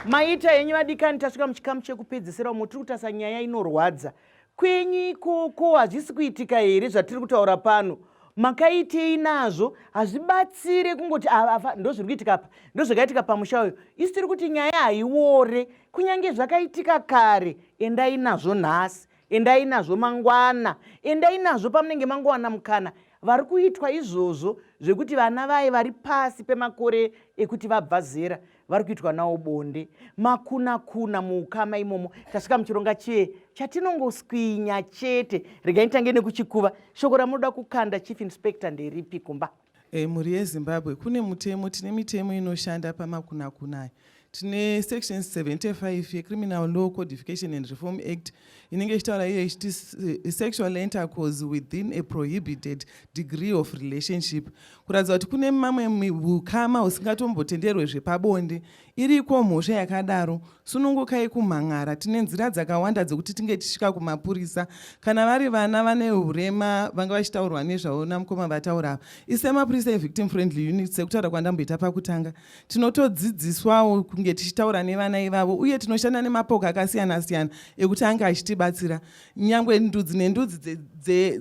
maita henyu vadikani tasvika muchikamu chekupedzesera umo tiri kutasa nyaya inorwadza kwenyu ikoko hazvisi kuitika here zvatiri kutaura pano makaitei nazvo hazvibatsire kungoti afa ndo zviri kuitika pa ndo zvakaitika pamusha uyo isi tiri kuti nyaya haiwore kunyange zvakaitika kare endai nazvo nhasi endai nazvo mangwana endai nazvo pamunenge mangowana mukana vari kuitwa izvozvo zvekuti vana vaye vari pasi pemakore ekuti vabva zera vari kuitwa nawo bonde makuna kuna muukama imomo tasvika muchironga chee chatinongoswinya chete regai nitange nekuchikuva shoko ramunoda kukanda chief inspector nderipi kumba E, mhuri yezimbabwe kune mutemo tine mitemo inoshanda pamakunakunaya tine section 75 yecriminal law codification and reform act inenge ichitaura iyo ichiti eh, sexual intercourse within a prohibited degree of relationship kuratidza kuti kune mamwe ukama husingatombotenderwe zvepabonde Iriko mhosva yakadaro, sunungukai kumhan'ara. Tine nzira dzakawanda dzekuti tinge tichisvika kumapurisa. Kana vari vana vane hurema vanga vachitaurwa nezvavo namukoma vataura ava. Ise mapurisa evictim friendly unit sekutaura kwandamboita pakutanga. Tinotodzidziswawo kunge tichitaura nevana ivavo uye tinoshanda nemapoka akasiyana siyana ekuti ange achitibatsira. Nyangwe ndudzi nendudzi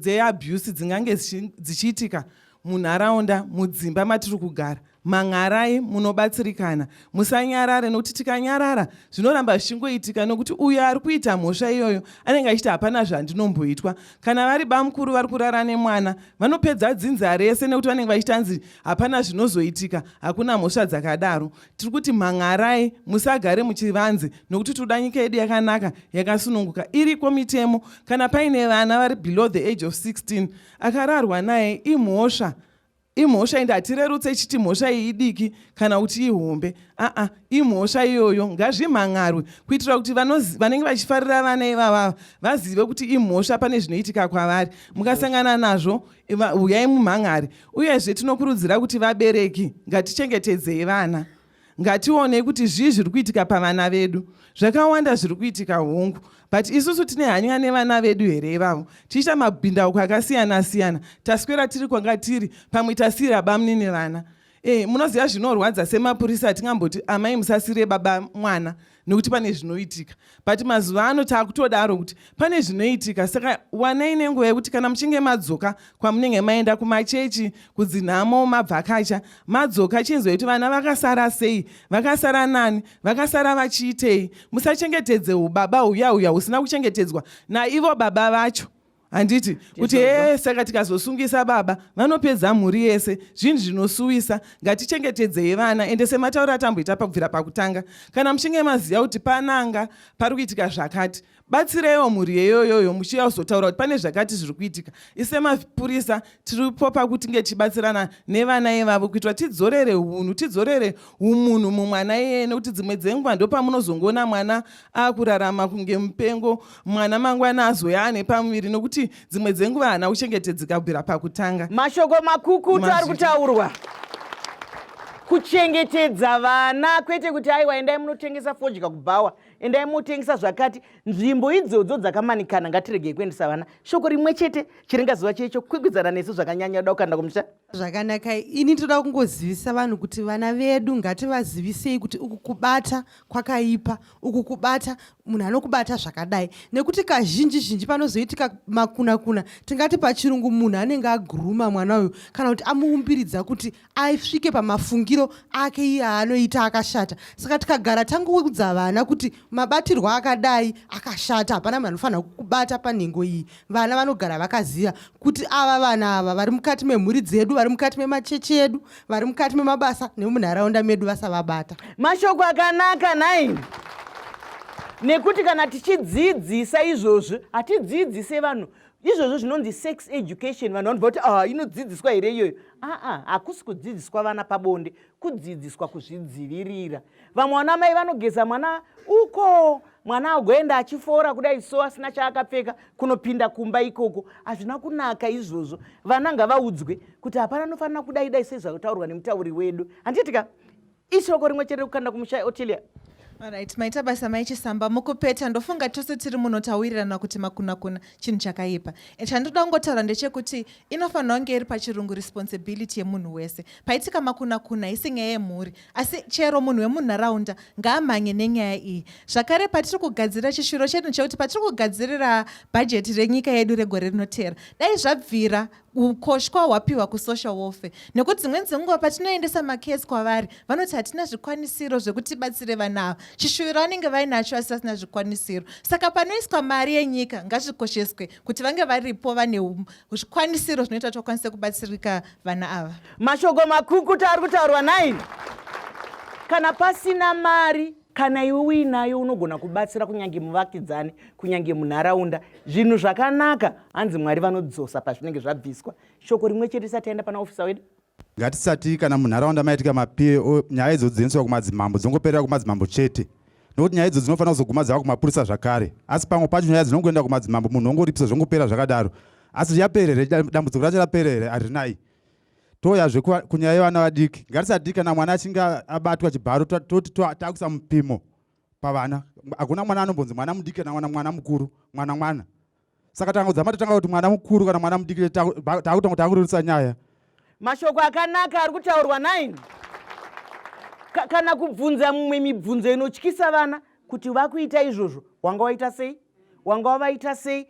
dzeabuse dzingange dzichiitika munharaunda, mudzimba matiri kugara. Mhan'arai munobatsirikana. Musanyarare nokuti tikanyarara zvinoramba zvichingoitika nokuti uyo ari kuita mhosva iyoyo anenge achiti hapana zvandinomboitwa. Kana vari bamukuru vari kurara nemwana vanopedza dzinza rese nokuti vanenge vachiti anzi hapana zvinozoitika hakuna mhosva dzakadaro. Tiri kuti mhan'arai musagare muchivanze nokuti tinoda nyika yedu yakanaka yakasununguka iriko mitemo. Kana paine vana vari below the age of 16 akararwa naye imhosva Imhosva ende hatirerutse ichiti mhosva iyi idiki kana kuti ihombe. Aa, imhosva iyoyo ngazvimhan'arwe kuitira kuti vanenge vachifarira vana ivavava vazive kuti imhosva pane zvinoitika kwavari. Mukasangana nazvo huyai mumhan'are. Uyezve tinokurudzira kuti vabereki ngatichengetedzei vana. ngationei kuti zvii zviri kuitika pavana vedu zvakawanda zviri kuitika hongu but isusu tine hanya nevana vedu here ivavo tichiita mabhindauko akasiyana siyana taswera tiri kwanga tiri pamwe tasiira bamni nevana e, munoziva zvinorwadza semapurisa atingamboti amai musasire baba mwana nekuti pane zvinoitika but mazuva ano taakutodaro kuti pane zvinoitika saka wanai nenguva yekuti kana muchinge madzoka kwamunenge maenda kumachechi kudzinhamo mabvakacha madzoka chinzwa kuti vana vakasara sei vakasara nani vakasara vachiitei musachengetedze ubaba huya huya husina kuchengetedzwa naivo baba vacho handiti kuti hee saka tikazosungisa baba vanopedza mhuri yese zvinhu zvinosuwisa ngatichengetedzei vana ende sematauro atamboita pakubvira pakutanga kana muchinge maziva kuti pananga pari kuitika zvakati batsireiwo mhuri yeyoyoyo muchiuya kuzotaura kuti pane zvakati zviri kuitika isemapurisa tiripo pakuti nge tichibatsirana nevana ivavo kuitira tidzorere unhu tidzorere umunhu mumwana iyeye nekuti dzimwe dzenguva ndopamunozongoona mwana akurarama kunge mupengo mwana mangwana azoya ane pamuviri nokuti dzimwe dzenguva haana kuchengetedzeka kubvira pakutanga mashoko makukutu ari kutaurwa kuchengetedza vana kwete kuti aiwa endai munotengesa fodya kubhawa endai motengesa zvakati nzvimbo idzodzo dzakamanikana ngatiregei kuendesa vana shoko rimwe chete chiringaziva checho kwikwizana nesu zvakanyanya da kukaenda kumusha zvakanaka ini toda kungozivisa vanhu kuti vana vedu ngativazivisei kuti uku kubata kwakaipa uku kubata munhu anokubata zvakadai nekuti kazhinji zhinji panozoitika makunakuna tingati pachirungu munhu anenge aguruma mwana uyu kana kuti amuumbiridza kuti asvike pamafungiro ake iye aanoita akashata saka tikagara tangoudza vana kuti mabatirwo akadai akashata hapana munhu anofanira kukubata panhengo iyi vana vanogara vakaziva kuti ava vana ava vari mukati memhuri dzedu vari mukati memachechi edu vari mukati memabasa nemunharaunda medu vasavabata mashoko akanaka nai nekuti kana tichidzidzisa izvozvi hatidzidzise vanhu izvozvo zvinonzi sex education vanhu vanobva kuti ah, inodzidziswa here iyoyo aa hakusi kudzidziswa vana pabonde kudzidziswa kuzvidzivirira vamwe vana mai vanogeza mwana uko mwana agoenda achifora kudai so asina chaakapfeka kunopinda kumba ikoko hazvina kunaka izvozvo vana ngavaudzwe kuti hapana anofanira kudai dai sezvakutaurwa nemutauri wedu handiitika ishoko rimwe chete rekukanda kumusha otilia Alright, maita basa maichisamba mukupeta ndofunga tose tiri muno tawirirana kuti makunakuna chinhu chakaipa. Chandoda kungotaura ndechekuti inofanira kunge iri pachirungu responsibility yemunhu wese paitika makuna kuna haisi nyaya yemhuri asi chero munhu wemunharaunda ngaamhanye nenyaya iyi zvakare patiri kugadzirira chishuro chedu chekuti patiri kugadzirira bhajeti renyika yedu regore rinotera dai zvabvira ukoshwa hwapiwa kusocial warfare nekuti dzimweni dzenguva patinoendesa makesi kwavari vanoti hatina zvikwanisiro zvekuti batsire vana ava chishuviro vanenge vainacho asi vasina zvikwanisiro saka panoiswa mari yenyika ngazvikosheswe kuti vange varipo vane zvikwanisiro zvinoita kuti vakwanise kubatsirika vana ava mashoko makukuta ari kutaurwa naini kana pasina mari kana iwe uinayo unogona kubatsira kunyange muvakidzani kunyange munharaunda zvinhu zvakanaka hanzi mwari vanodzosa pazvinenge zvabviswa shoko rimwe chete isati yaenda pana ofisa wedu Ngatisati kana munharaunda maitika mapie nyaya idzo dzinoiswa kumadzimambo dzongoperera kumadzimambo chete nokuti nyaya idzo dzinofanira kuzoguma dzava kumapurisa zvakare asi pamwe pacho nyaya dzinongoenda kumadzimambo munhu wongoripisa zvongopera zvakadaro asi riapere here dambudziko racho rapere here harinai toyazve kunyaya yevana vadiki ngatisadii kana mwana achinge abatwa chibharo toti takuisa mupimo pavana hakuna mwana anombonzi mwana mudiki kana mwana mwana mukuru mwana mwana saka tanga kudzama tatanga kuti mwana mukuru kana mwana mudiki taakutanga kuti akurerutsa nyaya mashoko akanaka ari kutaurwa nine Ka, kana kubvunza mumwe mibvunzo inotyisa vana kuti vakuita izvozvo wanga waita sei wanga wavaita sei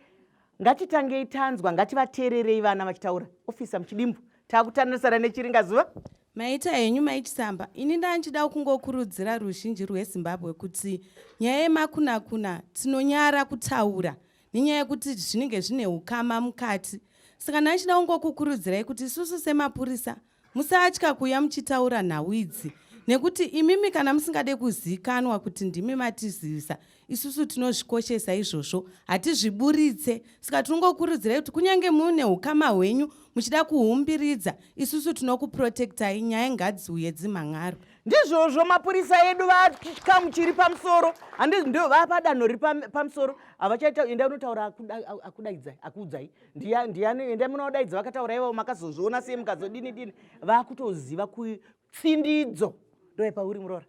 ngatitangei tanzwa ngativateererei vana vachitaura ofisa muchidimbu taakutanorisana nechiringazuva Maita henyu maichisamba ini ndandichida kungokurudzira ruzhinji rwezimbabwe kuti nyaya yemakunakuna tinonyara kutaura nenyaya yekuti zvinenge zvine ukama mukati saka ndandichida kungokukurudzirai kuti isusu semapurisa musatya kuuya muchitaura nhau idzi nekuti imimi kana musingade kuzikanwa kuti ndimi matizivisa Isusu tinozvikoshesa izvozvo, hatizviburitse. Saka tinongokurudzirai kuti kunyange mune ukama hwenyu muchida kuhumbiridza, isusu tinokuprotektai, nyaya ngadziuye dzimhan'aro. Ndizvozvo mapurisa edu vachikamu chiri pamusoro, handizi ndo vapadanho riri pamusoro, havachaita enda unotaura akudaidzai akuudzai ndiani enda munodaidza vakataura ivavo makazozviona sei mukazodini dini vakutoziva kutsindidzo ndoepauri muroora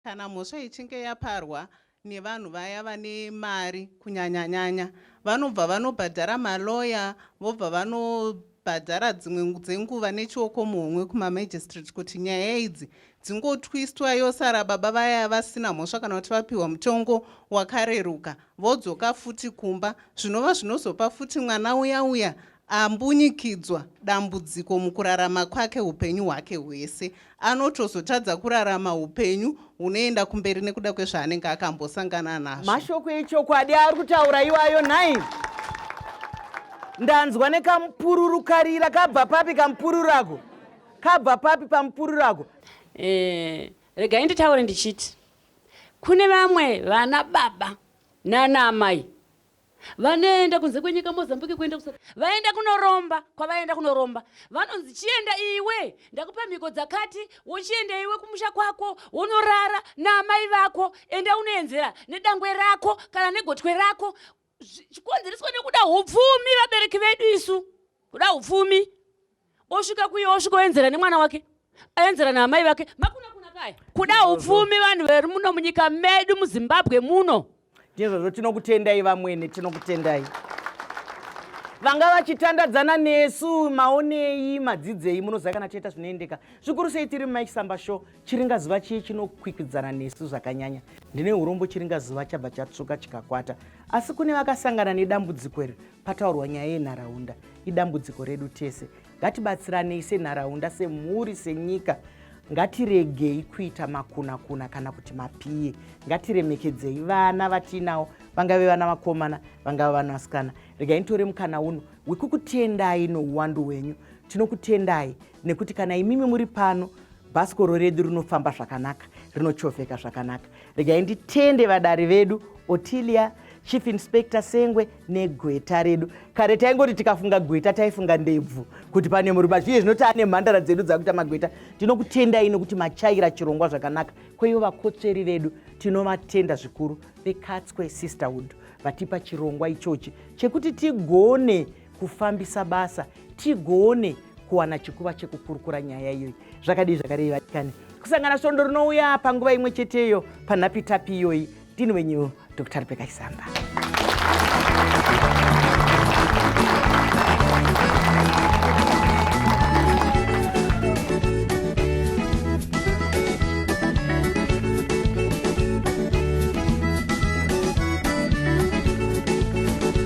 Kana mhosva ichinge yaparwa nevanhu vaya vane mari kunyanyanyanya vanobva vanobhadhara malawyer vobva vanobhadhara dzimwe dzenguva nechioko muhomwe kumamagistrate kuti nyaya idzi dzingotwistwa yosara baba vaya vasina mhosva kana kuti vapiwa mutongo wakareruka vodzoka futi kumba zvinova zvinozopa futi mwana uya uya Ambunyikidzwa dambudziko mukurarama kwake hupenyu hwake hwese. Anotozotadza kurarama hupenyu hunoenda kumberi nekuda kwezvaanenge akambosangana nazvo. Mashoko echokwadi ari kutaura iwayo nhai? Ndanzwa nekamupururu karira kabva papi kamupururu ako? Kabva papi pamupururu ako? Eh, regai nditaure ndichiti kune vamwe vana baba nana amai Vanoenda kunze kwenyika Mozambique kuenda ku vaenda kunoromba kwavaenda kunoromba vanonzi chienda iwe ndakupa mhiko dzakati wochienda iwe kumusha kwako wonorara naamai vako enda unoenzera nedangwe rako kana negotwe rako chikonzereswa nekuda upfumi vabereki vedu isu kuda upfumi osvika kuye osvika oenzera nemwana wake aenzera naamai vake makuna kuna kaya kuda upfumi vanhu vari muno munyika medu muzimbabwe muno ndizvozvo tinokutendai vamwene tinokutendai vanga vachitandadzana nesu maonei madzidzei munoziva kana tiita zvinoendeka zvikuru sei tiri mumaisamba show Chiringazuva chiye chinokwikwidzana nesu zvakanyanya. Ndine urombo chiringazuva chabva chatsvuka chikakwata. Asi kune vakasangana nedambudziko iri pataurwa nyaya yenharaunda. Idambudziko redu tese. Ngatibatsiranei senharaunda, semhuri, senyika. Ngatiregei kuita makunakuna kana kuti mapiye. Ngatiremekedzei vana vatiinawo, vangave vana vakomana, vangava vana vasikana. Regai nitore mukana uno wekukutendai nouwandu hwenyu. Tinokutendai nekuti kana imimi muri pano Bhasikoro redu rinofamba zvakanaka, rinochovheka zvakanaka. Regai nditende vadari vedu Otilia, Chief Inspector Sengwe negweta redu. Kare taingoti tikafunga gweta taifunga ndebvu kuti pane murume zviye zvinoti ane mhandara dzedu dzakuita magweta. Tinokutendai nokuti machaira chirongwa zvakanaka. Kweivo vakotsveri vedu tinovatenda zvikuru veKatswe Sisterhood vatipa chirongwa ichochi chekuti tigone kufambisa basa tigone kuwana chikuva chekukurukura nyaya iyoyi zvakadii zvakarei vatikani kusangana svondo rinouya panguva imwe cheteyo panhapitapi iyoyi ndini wenyu dr rebeka chisamba